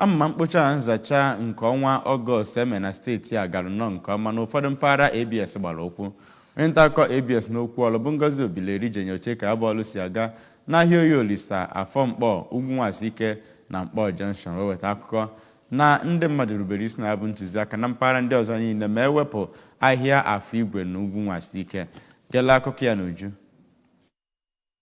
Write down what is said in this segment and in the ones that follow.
Amụma mkpocha na nzacha nke ọnwa Ọgọst e mere na steeti a gara nnọọ nke ọma na ụfọdụ mpaghara ABS gbara ụkwụ. Onye ntaakụkọ ABS n'okwu ọlụ bụ Ngozi Obileri je nyoche ka ya bụ ọlụ si aga n'ahịa Oye Olisa, Afọ Mkpọ, Ugwu Nwasike na Mkpọ Junction wee weta akụkọ na ndị mmadụ rubere isi na ya bụ ntụziaka na mpaghara ndị ọzọ niile ma ewepụ ahịa Afọ Igwe na Ugwu Nwasike. Gere akụkọ ya n'uju.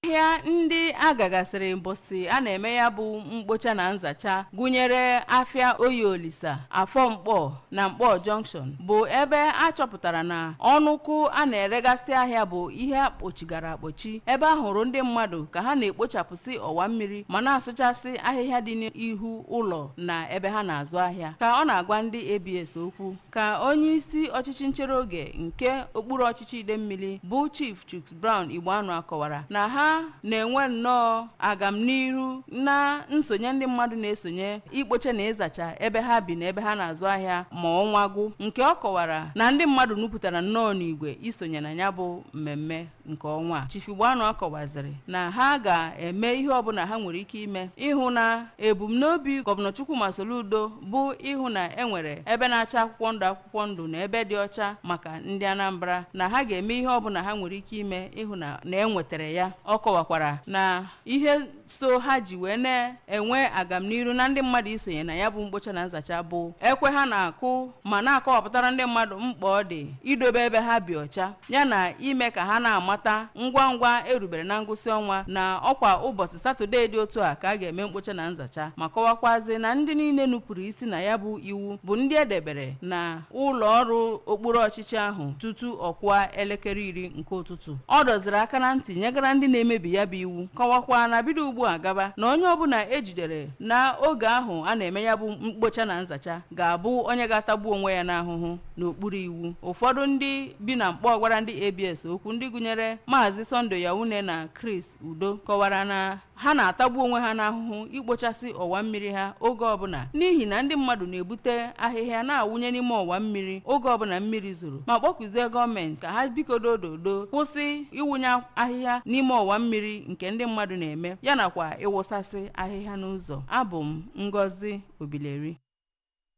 ahịa ndị a gagasịrị mbọsị a na-eme ya bụ mkpocha na nzacha gụnyere afịa oye olisa afọ mkpọ na mkpọ junction bụ ebe a chọpụtara na ọnụ ụkwụ a na-eregasị ahịa bụ ihe a kpọchigara akpọchi ebe a hụrụ ndị mmadụ ka ha na-ekpochapụsị ọwa mmiri ma na-asụchasị ahịhịa dị n'ihu ụlọ na ebe ha na-azụ ahịa ka ọ na-agwa ndị abs okwu ka onye isi ọchịchị nchere oge nke okpuru ọchịchị idemmili bụ chief chuks Brown Igboanua kọwara na ha na-enwe nnọọ agamnihu na nsonye ndị mmadụ na-esonye ikpocha na ịzacha ebe ha bi na ebe ha na-azụ ahịa ma ọnwa gwụ nke ọ kọwara na ndị mmadụ nupụtara nnọọ n'igwe isonye na ya bụ mmemme nke ọnwa a. Chief Igboanua kọwaziri na ha ga-eme ihe ọbụla ha nwere ike ime ịhụ na ebumnobi gọvanọ Chukwuma Soludo bụ ịhụ na e nwere ebe na-acha akwụkwọ ndụ akwụkwọ akwụkwọ ndụ na ebe dị ọcha maka ndị Anambra na ha ga-eme ihe ọbụla ha nwere ike ime ịhụ na e nwetara ya ọ kọwakwara na ihe so ha ji wee na-enwe agamniru na ndị mmadụ isonye na ya bụ mkpocha na nzacha bụ ekwe ha na-akụ ma na-akọwapụtara ndị mmadụ mkpa ọ dị idobe ebe ha bi ọcha yana ime ka ha na-amata ngwa ngwa e rubere na ngwụsị ọnwa na ọkwa ụbọchị satọdee dị otu a ka a ga-eme mkpocha na nzacha ma kọwakwazi na ndị niile nupụrụ isi na ya bụ iwu bụ ndị e debere na ụlọ ọrụ okpuru ọchịchị ahụ tutu ọ kụa elekere iri nke ụtụtụ ọ dọziri aka na ntị nyegara ndị na-emebi ya bụ iwu kọwakwa na bido ugbu a gaba na onye ọbụla e jidere na oge ahụ a na-eme ya bụ mkpocha na nzacha ga-abụ onye ga-atagbu onwe ya n'ahụhụ n'okpuru iwu ụfọdụ ndị bi na mkpọ gwara ndị abs okwu ndị gụnyere maazị sunday yaune na chris udo kọwara na ha na-atagbu onwe ha n'ahụhụ ikpochasị ọwa mmiri ha oge ọbụla n'ihi na ndị mmadụ na-ebute ahịhịa na-awụnye n'ime ọwa mmiri oge ọbụla mmiri zoro ma kpọkuzie gọọmenti ka ha bikodo ododo kwụsị ịwụnye ahịhịa n'ime ọwa mmiri nke ndị mmadụ na-eme ya nakwa ịwụsasị ahịhịa n'ụzọ abụ m Ngozi Obileri